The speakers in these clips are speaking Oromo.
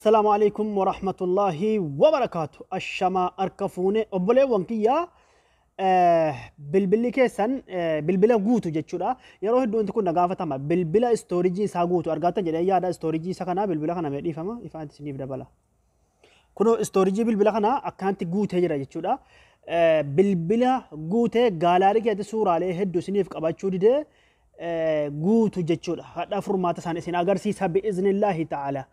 Salaamu alaikum wa rahmatullahi wa barakaatu. Ashamaa harka fuune obboleewwan kiyyaa eh, bilbilli keessan eh, bilbila guutu jechuudha. Yeroo hedduu wanti kun na gaafatama. Bilbila istoorijii isaa guutu argaatan jedhee yaada istoorijii isa kanaa bilbila kana mee dhiifama ifaan isiniif dabala. Kunoo istoorijii bilbila kanaa akkanatti guutee jira jechuudha. Eh, Bilbila guutee gaalaarii keessatti suuraalee hedduu isiniif qabachuu didee guutu jechuudha. Hadhaa furmaata isaan isin agarsiisa bi'iznillaahi ta'ala.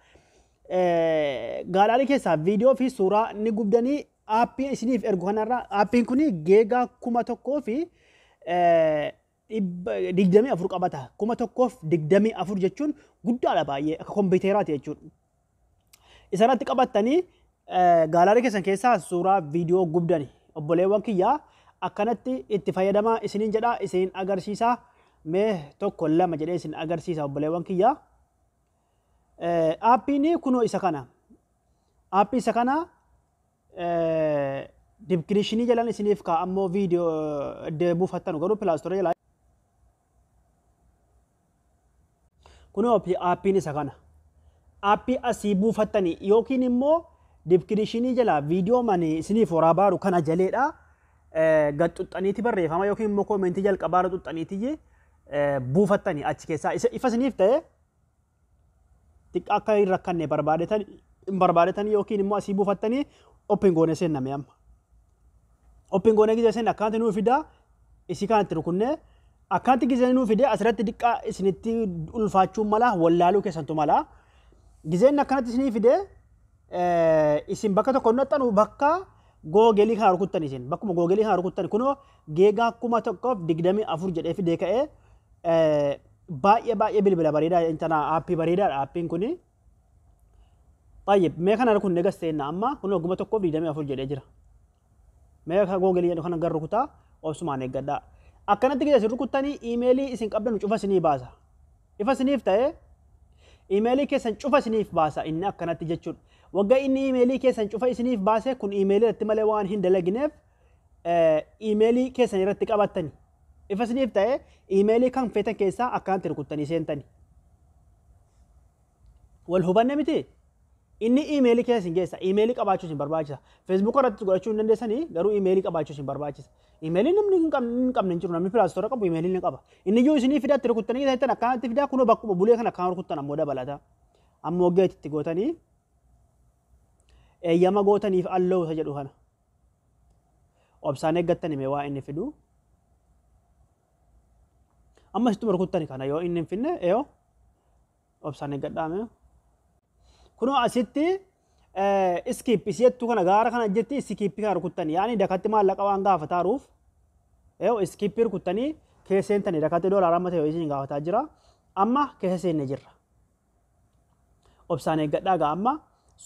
Gaalaarii keessaa viidiyoo fi suuraa ni gubdanii aappii isiniif ergu kanarra aappiin kun geegaa kuma tokkoo fi digdamii afur qabata. Kuma tokkoof digdamii afur jechuun guddaadha baay'ee akka kompiiteraati jechuudha. Isarratti qabattanii gaalaarii keessan keessaa suuraa viidiyoo gubdani. Obboleewwan kiyyaa akkanatti itti fayyadamaa isiniin jedhaa isin agarsiisa. Mee tokko lama jedhee isin agarsiisa obboleewwan kiyyaa. Aappiin kunoo isa kana. Aappii isa kana dibkirishinii jalan isiniif kaa'ammoo viidiyoo deebuufattanu garuu pilaastorii jalaa Kunoo aappiin isa kana. Aappii asii buufattanii yookiin immoo dibkirishinii jalaa viidiyoo mani isiniif horaa baaru kana jaleedha. Gad xuxxaniiti barreeffama yookiin immoo koomentii jalqabaarra xuxxaniiti buufattanii achi keessaa ifa isiniif ta'e xiqqa akka hin rakkanne barbaadetan hin barbaadetan yookiin immoo asii buufattanii open goone seenna mee amma. Open goone gizee seenna akkaanti nuu fidaa isii kanatti rukunnee akkaanti gizee nuu fidee asirratti xiqqaa isinitti ulfaachuun malaa wallaaluu keessantu malaa. Gizeen akkanatti isinii fidee isin bakka tokko naxxanu bakka googelii kana rukuttan isin bakkuma googelii kana rukuttan kunoo geegaa kuma tokkoof digdamii afur jedhee fidee ka'ee Baay'ee baay'ee bilbila bareedaa intana aappii bareedaadha aappiin kuni. Baay'ee mee kana rukun negas seenna amma kun ogguma tokkoof 24 jedhee jira. Mee akka googelii jedhu kana gar rukutaa obsumaan eeggadhaa. Akkanatti gidee isin rukuttanii iimeelii isin qabdan cufa isinii baasa. Ifa isiniif ta'ee iimeelii keessan cufa isiniif baasa inni akkanatti jechuudha. Wagga inni iimeelii keessan cufa isiniif baase kun iimeelii irratti malee waan hin dalagineef iimeelii keessan irratti qabattani. Ifa isiniif ta'e iimeelii kan feetan keessaa akkanatti rukuttanii seentani. Wal hubanne miti? Inni iimeelii keessa isin geessa. Iimeelii qabaachuu isin barbaachisa. Feesbuuka irratti godhachuu hin dandeessanii garuu iimeelii qabaachuu isin barbaachisa. Iimeelii namni hin qabne hin qabne hin jiru namni pilaastoora qabu iimeelii ni qaba. Inni iyyuu isinii fidaatti rukuttanii ta'ettan akkanatti fidaa kunoo bakkuma bulee kan akkaan rukuttan ammoo dabalata. Ammoo geetitti gootanii eeyyama gootaniif alloowusa jedhu kana. obsaan eeggattani mee waa inni fidu amma sittuma rukuttani kana yoo inni hin finne eyo obsaan eeggadhaa mee kunoo asitti iskiip isii jettu kana gaara kana jetti iskiippi kana rukuttani yaani dakatti maallaqa waan gaafataaruuf eyo iskiippi rukuttanii keessa seentani dakatti doolaara amma ta'e isiin gaafataa jira amma keessa seenne jirra Obsaan eeggadhaa gaa amma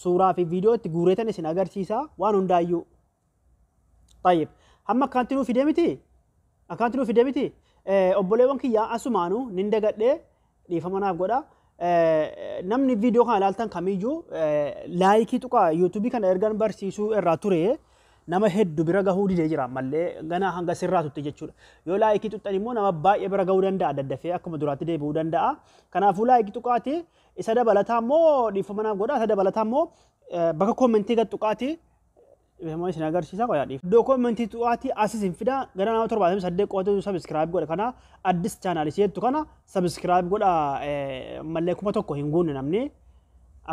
suuraa fi viidiyoo itti guureetan isin agarsiisaa waan hundaayyuu. Tayyib. Hamma akkaanti nuu fidee miti? Akkaanti nuu fidee miti? Obboleewwan kiyyaa asumaanuu nin dagadhee dhiifama naaf godha. Namni viidiyoo kana ilaaltan kamiyyuu laayikii tuqaa yuutuubii kana ergan barsiisuu irraa ture Nama heddu bira gahuu dide jira ammalle ganaa hanga sirraa tutti jechudha. Yoo like tuxxan immoo nama baay'ee bira gahuu danda'a daddafee akkuma duraatti deebi'uu danda'a. Kanaafuu like tuqaati isa dabalataa immoo dhiifama naaf godha isa dabalataa immoo bakka koomentii gad tuqaati Beekamoo isin agarsiisa qoyaa dhiif. Iddoo koomentii tuqaati asis hin fida gara nama torbaatamii saddeet qo'atu sabiskiraayib godha kana addis chaanaalis jettu kana sabiskiraayib godha mallee kuma tokko hin guunne namni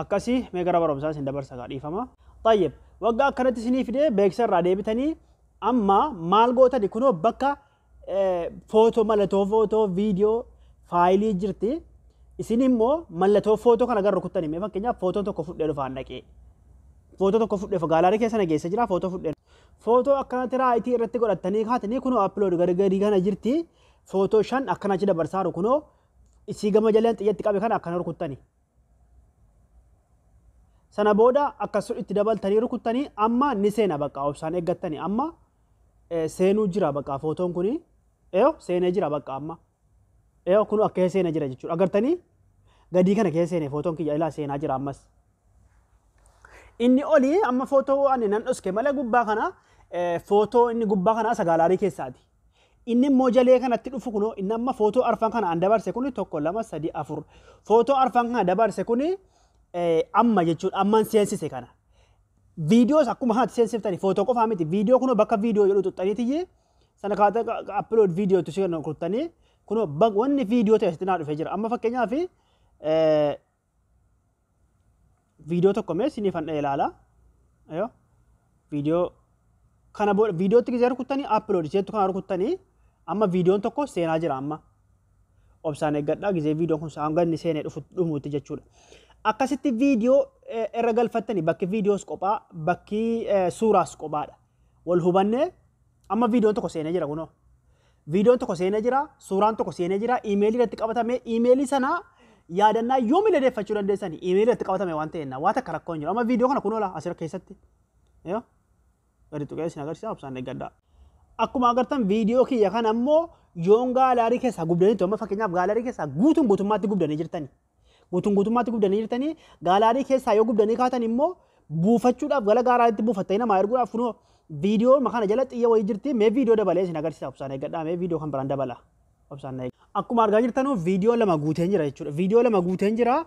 akkasii mee gara barumsaa isin dabarsa gaa dhiifama. Xayyib. Waggaa akkanatti isinii fidee beeksisa irraa deebitanii amma maal gootani kunoo bakka footoo mallattoo footoo viidiyoo faayilii jirti. Isin immoo mallattoo footoo kana gara rukuttani mee fakkeenyaaf footoo tokko fudhee dhufaan dhaqee. Footoo tokko fudhee gaalaarii keessa nageessa jira footoo fudhee. Footoo akkanatti raayitii irratti godhattanii kaatanii kunoo appilood gargarii kana jirti. Footoo shan akkana achi dabarsaaru kunoo isii gama jalaan xiyyatti qabe kana akkana rukuttani. Sana booda akkas itti dabaltanii rukuttanii amma ni seena bakka obsaan eeggattanii amma eh, seenuu jira bakka footoon kuni eeyo seenee jira bakka amma eeyo kunu akka kee seenee jira jechuudha agartanii gadii kana kee seenee footoon kiyya ilaa seenaa jira ammas. Inni olii amma footoo ani nan dhoske malee gubbaa kana eh, footoo inni gubbaa kana sagaalaarii keessaati. Inni immoo jalee kanatti dhufu kunoo inni amma footoo arfan kana an dabarse kuni tokko lama sadi afur footoo arfan kana dabarse kuni amma jechuudha amman seensise kana. Viidiyoos akkuma kanatti seensiftani footoo qofaa miti viidiyoo kunoo bakka viidiyoo jedhu xuxxaniitiyyi sana kaata appilood viidiyoo itti seenan kurtanii kunoo wanni viidiyoo ta'e asitti naa dhufee jira amma fakkeenyaaf viidiyoo tokko mee isiniif handha'e ilaala. Yoo viidiyoo kana booda viidiyootti gisee rukuttanii appiloodi isheettu kana rukuttanii amma viidiyoon tokko seenaa jira amma. Obsaan eeggadhaa gisee viidiyoon kun hanga inni seenee dhufu dhumuutti jechuudha. Akkasitti viidiyoo eh, irra galfattanii bakki viidiyoos qophaa bakki eh, suuraas qophaadha. Wal hubannee Amma viidiyoon tokko seenee jira kunoo. Viidiyoon tokko seenee jira, suuraan tokko seenee jira, iimeelii irratti qabatame, iimeelii sana yaadannaa yoomillee deeffachuu dandeessani. Iimeelii irratti qabatame waan ta'eef waan takka rakkoo hin jiru. Amma viidiyoo kana kunoo laa asirra keessatti. Yoo gadi tuqee isin agarsiisa obsaan eeggadhaa. Akkuma agartan viidiyoo kiyya kana ammoo yoon gaalaarii keessaa gubdaniitu amma fakkeenyaaf gaalaarii keessaa guutuun guutummaatti gubdanii jirtani. Guutuun guutummaatti gubdanii jirtanii gaalaadii keessaa yoo gubdanii kaatan immoo buufachuudhaaf gara gaaraatti buufattanii namaa erguudhaaf kunoo viidiyoo kana jala xiyya wayii jirti mee viidiyoo dabalee isin agarsiisa obsaan eeggadhaa mee viidiyoo kan biraan dabala obsaan na eeggadhaa. Akkuma argaa jirtanuu viidiyoo lama guuteen jira jechuudha viidiyoo lama guuteen jira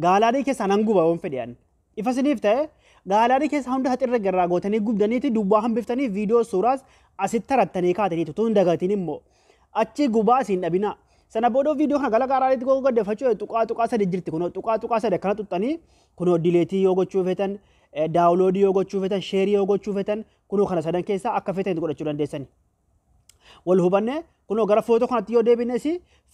gaalaadii keessaa nan guba yoon fedhe ani. Ifa siniif ta'e gaalaarii keessa hunda haxirra garraa gootanii gubdaniiti duwwaa hambiftanii viidiyoo suuraas asitti tarattanii kaataniitu tun dagatiin immoo achi gubaa asiin dhabinaa. Sana booda viidiyoo kana gara gaaraariitti goga gaddafachuu tuqaa tuqaa sadi jirti kunoo tuqaa tuqaa sadi akkana xuxxanii kunoo dileetii yoo gochuu feetan daawuloodii yoo gochuu feetan sheerii yoo gochuu feetan kunoo kana sadan keessaa akka feetan godhachuu dandeessani. wal hubannee kunoo gara footoo kanatti yoo deebines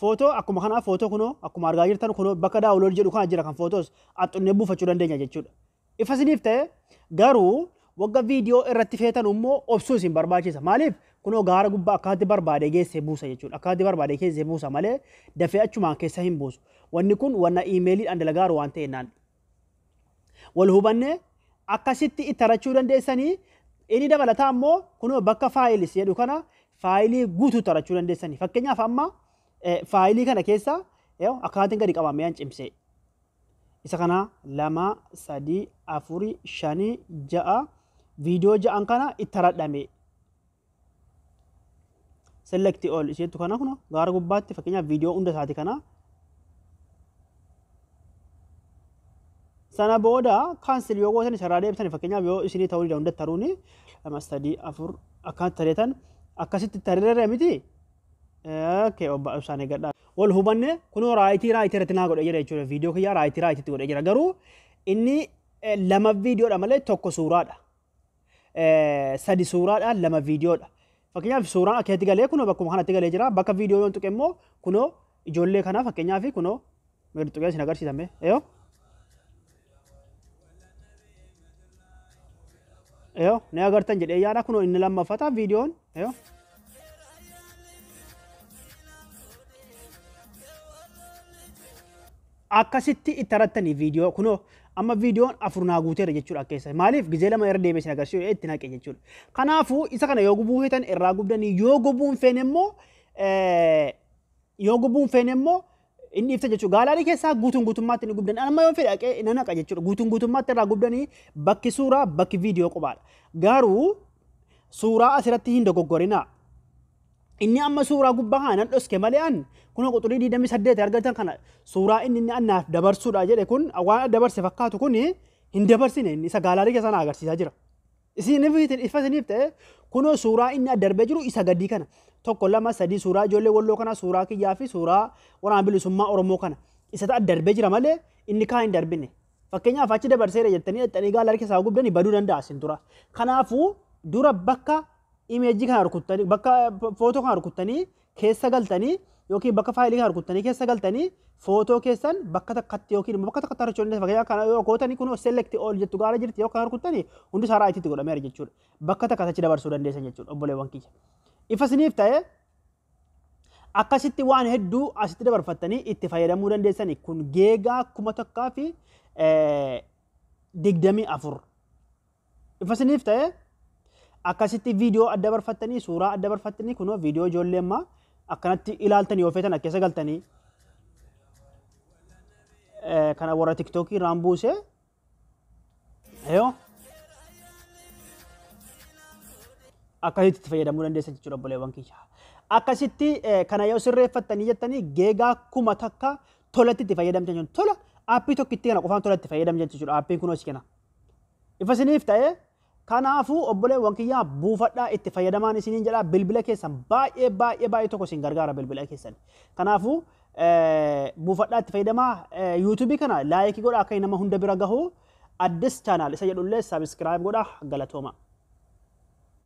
footoo akkuma kanaa footoo kunoo akkuma argaa jirtan kunoo bakka daawulood jedhu kana jira kan footoos axxunnee buufachuu dandeenya jechuudha. Ifa isiniif ta'e garuu wagga viidiyoo irratti feetan immoo obsuu isin barbaachisa. Maaliif kunoo gaara gubbaa akkaatti barbaade geesse buusa jechuudha. Akkaatti barbaade keesse buusa malee dafee achumaan keessa hin buusu. Wanni kun wanna iimeeliidhaan dalagaaru waan ta'e naan wal hubanne akkasitti itti arachuu dandeessanii inni dabalataa immoo kunoo bakka faayilis jedhu kana faayilii guutuu itti arachuu dandeessanii fakkeenyaaf amma eh, faayilii kana keessa yoo akkaatiin gadi qabamee an cimsee isa kana lama sadii afurii shanii ja'a viidiyoo ja'an kana itti aradhamee select all isheettu kana kuno gaara gubbaatti fakkeenyaaf viidiyoo hunda isaati kana sana booda kaansel yoo gootan isarraa deebisan fakkeenyaaf yoo isinii ta'uu dida hunda taruuni lama sadii afur akkaan tareetan akkasitti tarirra miti okay obba ibsaan eegadha wal hubanne kunoo raayitii raayitii irratti naa godhe jira jechuudha viidiyoo kiyyaa raayitii raayitiitti godhe jira garuu inni lama viidiyoodha malee tokko suuraadha sadi suuraadha lama viidiyoodha. Fakkeenyaaf suuraan akkeetti galee kunoo bakkuma kanatti galee jira bakka viidiyoo yoon tuqe immoo kunoo ijoollee kanaa fakkeenyaaf kunoo meeqa tuqee isin agarsiisame yoo yoo ni agartan jedhee yaada kunoo inni lammaffata viidiyoon yoo Akkasitti itti arattanii viidiyoo kunoo amma viidiyoon afur naa guuteera jechuudha keessa maaliif gizee lama irra deebi'ee isin agarsiisu itti naqe jechuudha. Kanaafuu isa kana yoo gubuu feetan irraa gubdanii yoo gubuu hin feene immoo yoo gubuu hin feene immoo hin dhiifta jechuudha. Gaalaarii keessaa guutuun guutummaatti ni gubdan amma yoo fedhe dhaqee na naqa jechuudha. Guutuun guutummaatti irraa gubdanii bakki suuraa bakki viidiyoo qubaadha. Garuu suuraa asirratti hin dogoggorinaa. Inni amma suuraa gubbaa kana nan dhoske malee an kunoo quxurii 28 argatan kana suuraa inni inni annaaf dabarsuudha jedhe kun waan dabarse fakkaatu kun hin dabarsine inni isa gaalaarii keessa na agarsiisaa jira. Isiniif ifa isiniif ta'e kunoo suuraa inni addarbee jiru isa gadii kana tokko lama sadii suuraa ijoollee walloo kana suuraa kiyyaa fi suuraa waraana bilisummaa Oromoo kana isa addarbee jira malee inni kaan hin darbine. Fakkeenyaaf achi dabarseera jettanii dhaqxanii gaala harki isaa gubdanii baduu danda'a asin dura. Kanaafuu dura bakka imeejii kana rukuttanii bakka footoo kana rukuttanii keessa galtanii yookiin bakka faayilii kana rukuttanii keessa galtanii footoo keessan bakka takkatti yookiin immoo bakka takkatti argachuu dandeessu fakkeenyaaf kana yoo gootanii kun select all jettu gaala jirti yoo kana rukuttanii hundi isaa raayitiitti godhameera jechuudha. Bakka takkatti achi dabarsuu dandeessan jechuudha obboleewwan kiyya. Ifa isiniif ta'ee Akkasitti waan hedduu asitti dabarfattanii itti fayyadamuu dandeessani. Kun geegaa kuma tokkaa fi digdamii afur. Ifa isiniif ta'e akkasitti viidiyoo adda barfattanii suuraa adda barfattanii kunoo viidiyoo ijoollee ammaa akkanatti ilaaltanii of eetan keessa galtanii kana warra tiktookii irraan buusee Yoo akkasitti itti fayyadamuu dandeessa jechuudha obboleewwan kiyya. Akkasitti eh, kana yoo sirreeffattanii jettanii geegaa kuma takka tolatti itti fayyadamte jechuudha. Tola aappii tokkitti kana qofaan tolatti fayyadamte jechuudha. Aappiin kunoos kana. Ifa isiniif ta'ee Kanaafuu obboleewwan kiyya buufadhaa itti fayyadamaan isiniin jedha bilbila keessan baay'ee baay'ee baay'ee tokko isin gargaara bilbila keessan. Kanaafuu buufadhaa itti fayyadamaa yuutuubii kana laayikii godha akka nama hunda bira gahu addis chaanaal isa jedhullee sabiskiraayib godha galatooma.